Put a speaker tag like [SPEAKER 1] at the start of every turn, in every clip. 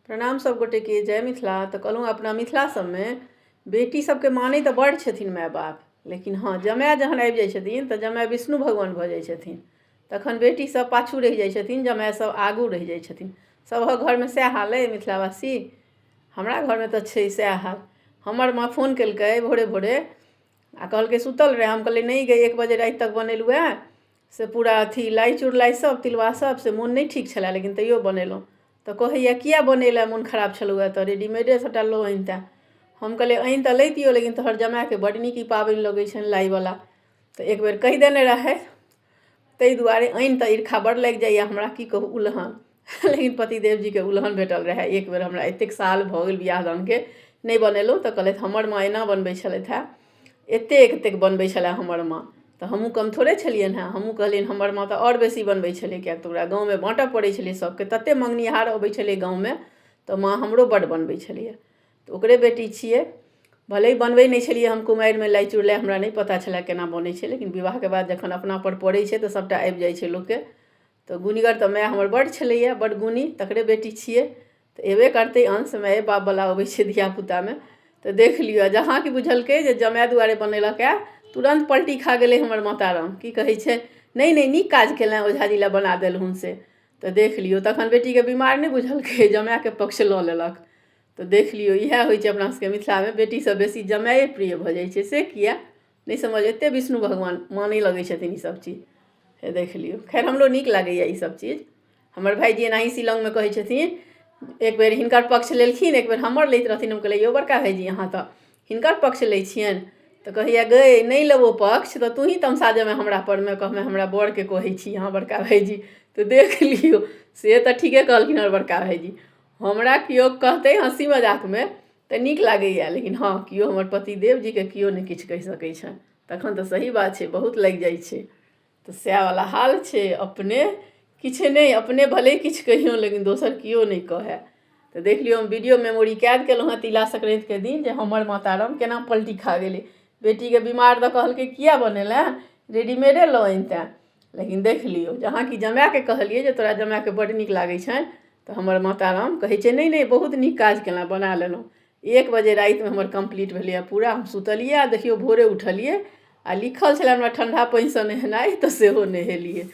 [SPEAKER 1] प्रणाम सभ गोटेके जय मिथिला तऽ कहलहुँ अपना मिथिला सभमे बेटी सभके मानै तऽ बड़ छथिन माय बाप लेकिन हँ जमाय जहन आबि जाइ छथिन तऽ जमाय विष्णु भगवान भऽ जाइ छथिन तखन बेटी सभ पाछू रहि जाइ छथिन जमाय सभ आगू रहि जाइ छथिन सभक घरमे सएह हाल अइ मिथिलावासी हमरा घरमे तऽ छै सएह हाल हमर माँ फोन केलकै भोरे भोरे आ कहलकै सुतल रहै हम कहलियै नहि गै एक बजे राति तक बनेलहुँ हेँ से पूरा अथी लाइ चुड़लाइ सभ तिलबा सभ से मोन नहि ठीक छलए लेकिन तैयो बनेलहुँ तऽ कहैए किए बनेलए मोन खराब छलहुए तऽ रेडीमेडे सभटा लऽ अनितै हम कहलियै आनि तऽ लैतियौ लेकिन तोहर जमाएके बड्ड नीक ई पाबनि लगै छनि लाइवला तऽ एक बेर कहि देने रहथि ताहि दुआरे आनि तऽ ईर्खा बड़ लागि जाइए हमरा की कहू उलहन लेकिन पतिदेव जीके उलहन भेटल रहए एक बेर हमरा एतेक साल भऽ गेल बियाह दानके नहि बनेलहुँ तऽ कहलथि हमर माँ एना बनबै छलथि हेँ एतेक एतेक बनबै छलए हमर माँ तऽ हमहूँ कम थोड़े छलियनि हेँ हमहूँ कहलियनि हमर माँ तऽ आओर बेसी बनबै छलै किएक तऽ ओकरा गाँवमे बाँटय पड़ै छलै सभके ततेक मङ्गनिहार अबै छलै गाँवमे तऽ माँ हमरो बड्ड बनबै छलैए तऽ ओकरे बेटी छियै भले बनबै नहि छलियै हम कुमारिमे लाइ चुड़लाइ हमरा नहि पता छलए केना बनै छै लेकिन विवाहके बाद जखन अपनापर पड़ै छै तऽ सभटा आबि जाइ छै लोकके तऽ गुनिगर तऽ माय हमर बड्ड छलैए बड्ड गुनी तकरे बेटी छियै तऽ अयबे करतै अंश माए बापवला अबै छै धियापुतामे तऽ देख लिअ जहाँ कि बुझलकै जे जमाए दुआरे बनेलक हए तुरन्त पलटी खा गेलै हमर माता राम की कहै छै नहि नहि नीक काज कयलनि ओझाजी लए बना देलहुँ से तऽ देख लियौ तखन बेटीकेँ बीमार नहि बुझलकै जमाएके पक्ष लऽ लेलक तऽ देख लियौ इएह होइ छै अपना सभके मिथिलामे बेटीसँ बेसी जमाए प्रिय भऽ जाइ छै से किएक नहि समझ एतेक विष्णु भगवान मानय लगै छथिन ईसभ चीज हे देख लियौ खैर हमरो नीक लागैए ईसभ चीज हमर भायजी एनाहि शिलांगमे कहै छथिन एक बेर हिनकर पक्ष लेलखिन एक बेर हमर लैत रहथिन हम कहलियै यौ बड़का भायजी अहाँ तऽ हिनकर पक्ष लै छियनि तऽ कहैए गै नहि लेबौ पक्ष तऽ तोहीँ तमसा जेमे हमरा परमे कहमे हमरा बड़के कहै छी अहाँ बड़का भायजी तऽ देख लियौ से तऽ ठीके कहलखिन हमर बड़का भायजी हमरा किओ कहतै हँसी मजाकमे तऽ नीक लागैए लेकिन हँ केओ हमर पतिदेव जीके केओ नहि किछु कहि सकै छनि तखन तऽ सही बात छै बहुत लागि जाइ छै तऽ सएह वाला हाल छै अपने किछु नहि अपने भले किछु कहियौ लेकिन दोसर केओ नहि कहै तऽ देख लियौ हम वीडियो मेमोरी कैद केलहुँ हँ तिला संक्रान्तिके दिन जे हमर माता राम केना पलटी खा गेलै बेटीके बीमार दऽ कहलकै किया बनेले रेडीमेडे लऽ अनिते लेकिन देख लियौ जहाँ कि जमाएके कहलियै जे तोरा जमाएके बड्ड नीक लागै छनि तऽ हमर माता राम कहै छै नहि नहि बहुत नीक काज केलहुँ बना लेलहुँ एक बजे रातिमे हमर कम्प्लीट भेलैए पूरा हम सुतलियै आ देखियौ भोरे उठलियै आ लिखल छलय हमरा ठण्ढा पानिसँ नहेनाइ तऽ सेहो नहेलियै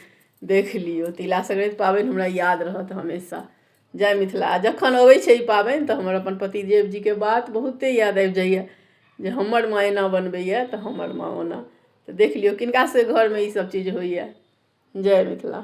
[SPEAKER 1] देख लियौ तिला सङ्क्रान्ति पाबनि हमरा याद रहत हमेशा जय मिथिला आ जखन अबै छै ई पाबनि तऽ हमर अपन पतिदेव जीके बात बहुते याद आबि जाइए जे हमर माँ एना बनबैए तऽ हमर माँ ओना तऽ देख लियौ किनका सभके घरमे इसभ चीज होइए जय मिथिला